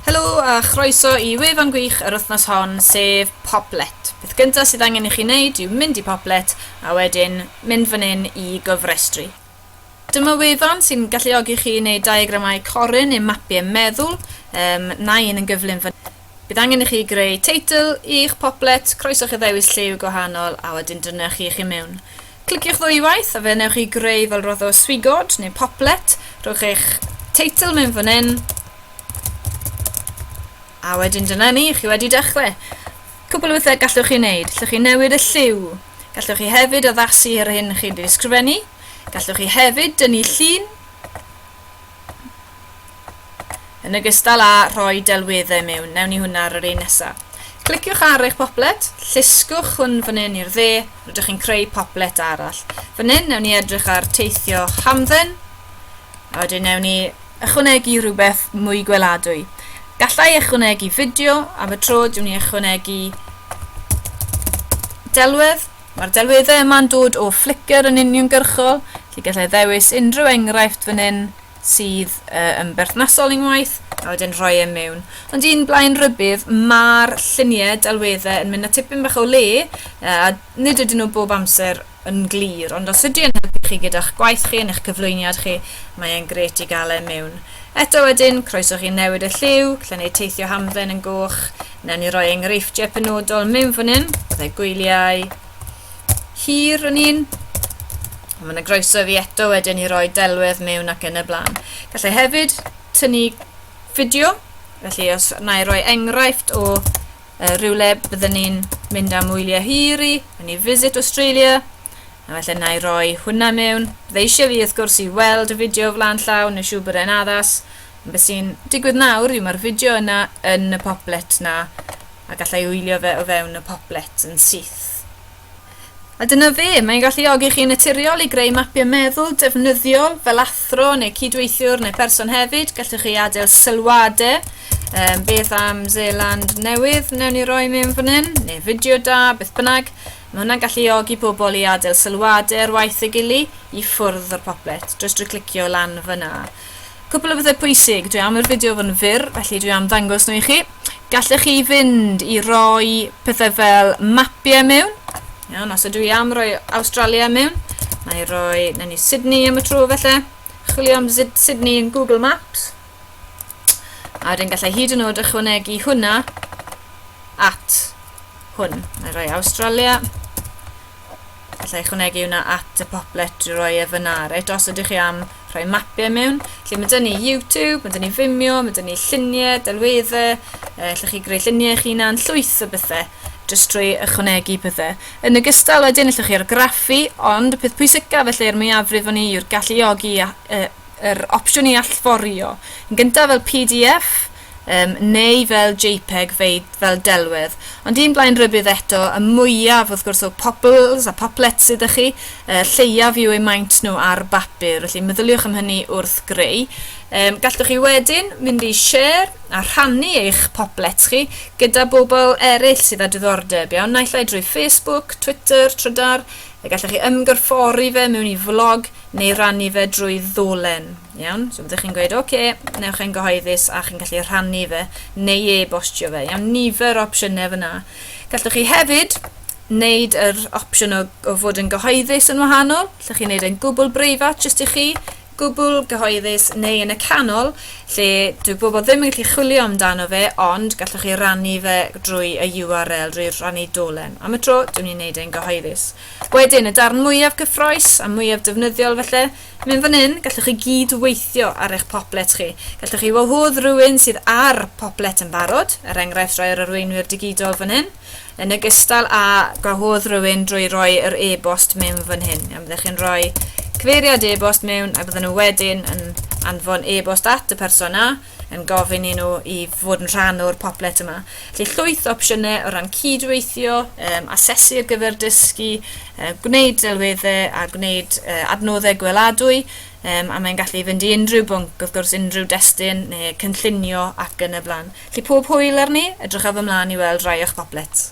Helo a chroeso i wefan gwych yr wythnos hon, sef Poplet. Peth gyntaf sydd angen i chi wneud yw mynd i Poplet a wedyn mynd fan hyn i gofrestru. Dyma wefan sy'n galluogi chi i wneud diagramau corin neu mapiau meddwl, um, na un yn gyflym fan Bydd angen i chi greu teitl i'ch poplet, croeso chi ddewis lliw gwahanol a wedyn dyna chi i chi mewn. Cliciwch ddwywaith a fe wnewch chi greu fel rodd o swigod neu poplet, rhowch eich teitl mewn fan hyn a wedyn dyna ni, chi wedi dechrau. Cwbl o bethau gallwch chi wneud, llwch chi newid y lliw, gallwch chi hefyd addasu ar hyn chi wedi ysgrifennu, gallwch chi hefyd dynnu llun, Yn ogystal â rhoi delweddau mewn, newn ni hwnna ar yr un nesa. Cliciwch ar eich poplet, llusgwch hwn fan hyn i'r dde, rydych chi'n creu poplet arall. Fan hyn, newn ni edrych ar teithio hamdden, a wedyn newn ni ychwanegu rhywbeth mwy gweladwy. Gallai ychwanegu fideo, am y tro dwi'n ni ychwanegu delwedd, Mae'r delweddau yma'n dod o Flickr yn uniongyrchol, felly gallai ddewis unrhyw enghraifft fan hyn sydd uh, yn berthnasol i'n waith, a wedyn rhoi e mewn. Ond un blaen rybudd, mae'r lluniau delweddau yn mynd â tipyn bach o le, uh, a nid ydyn nhw bob amser yn glir, ond os ydy yn helpu chi gyda'ch gwaith chi yn eich cyflwyniad chi, mae e'n gret i gael e mewn. Eto wedyn, croeso chi newid y lliw, gallai wneud teithio hamdden yn goch, Newn ni roi enghreifftiau penodol mewn fan hyn. Byddai gwyliau hir yn un. Mae yna groeso i fi eto wedyn i roi delwedd mewn ac yn y blaen. Gallai hefyd tynnu fideo, felly os na i roi enghraifft o uh, rhywle byddwn ni'n mynd am wyliau hir i, yn i Visit Australia, a felly na i roi hwnna mewn. Byddai eisiau fi wrth gwrs i weld y fideo flaen llaw, neu siw bod e'n addas, Be sy'n digwydd nawr yw mae'r fideo yna yn y poplet na, a gallai wylio fe o fewn y poplet yn syth. A dyna fe, mae'n galluogi chi'n naturiol i greu mapiau meddwl defnyddiol fel athro neu cydweithiwr neu person hefyd. Gallwch chi adael sylwadau, um, beth am Zealand newydd, newn ni roi mewn fan hyn, neu fideo da, beth bynnag. Mae hwnna'n galluogi pobl i adael sylwadau ar waith ei gili i ffwrdd o'r poplet, drwy drwy clicio lan fyna. Cwpl o bethau pwysig, dwi am yr fideo fod yn fyr, felly dwi am ddangos nhw i chi. Gallech chi fynd i roi pethau fel mapiau mewn. Iawn, os ydw i am roi Australia mewn, na i roi, na ni Sydney am y tro felly. Chwilio am Sydney yn Google Maps. A wedyn gallai hyd yn oed ychwanegu hwnna at hwn. Mae'n rhoi Australia. allai ychwanegu hwnna at y poplet drwy roi e fyna. Reit, os ydych chi am rhoi mapiau mewn, lle mae dyn ni YouTube, mae dyn ni Vimeo, mae dyn ni lluniau, delweddau, e, allwch chi greu lluniau eich hunan, llwyth o bethau, jyst trwy ychwanegu pethau. Yn y gystal wedyn, allwch chi argraffu, ond y peth pwysicaf felly er mwyafrif o'n i yw'r galluogi yr opsiwn i allforio. Yn gyntaf fel PDF, Yym, neu fel jpeg fei- fel delwedd. Ond un blaen rybudd eto, y mwyaf, wrth gwrs, o popples a poplets sy 'da chi, y lleiaf yw eu maint nhw ar bapur, felly meddyliwch am hynny wrth greu. Yym, gallwch chi wedyn mynd i share a rhannu eich poplets chi gyda bobl eraill sydd â diddordeb, iawn, naill ai drwy Facebook, Twitter, Trydar, y gallwch chi ymgorffori fe mewn i flog neu rannu fe drwy ddolen. Iawn, so byddwch chi'n gweud, oce, okay, newch e'n gyhoeddus a chi'n gallu rhannu fe neu e-bostio fe. Iawn, nifer o opsiynau fyna. Gallwch chi hefyd wneud yr opsiwn o, o fod yn gyhoeddus yn wahanol. Gallwch chi wneud e'n gwbl breifat jyst i chi, gwbl gyhoeddus neu yn y canol lle dwi bobl ddim yn gallu chwilio amdano fe ond gallwch chi rannu fe drwy y URL, drwy rannu dolen. Am y tro, dwi'n ni'n gwneud e'n gyhoeddus. Wedyn, y darn mwyaf cyffroes a mwyaf defnyddiol felly, Mynd fan hyn, gallwch chi gyd weithio ar eich poblet chi. Gallwch chi wahodd rhywun sydd ar poblet yn barod, er enghraifft rhoi yr arweinwyr digidol fan hyn, yn ogystal â gwahodd rhywun drwy roi yr e-bost mewn fan hyn. Iawn, byddwch chi'n rhoi cyfeiriad e-bost mewn a bydden nhw wedyn yn anfon e-bost at y person na, yn gofyn i nhw i fod yn rhan o'r poplet yma. Felly llwyth o opsiynau o ran cydweithio, um, asesu ar gyfer dysgu, uh, gwneud delweddau a gwneud uh, adnoddau gweladwy, um, a mae'n gallu fynd i unrhyw bwnc, wrth gwrs unrhyw destun neu cynllunio ac yn y blaen. Felly pob hwyl arni, edrychaf ymlaen i weld rai o'ch poplets.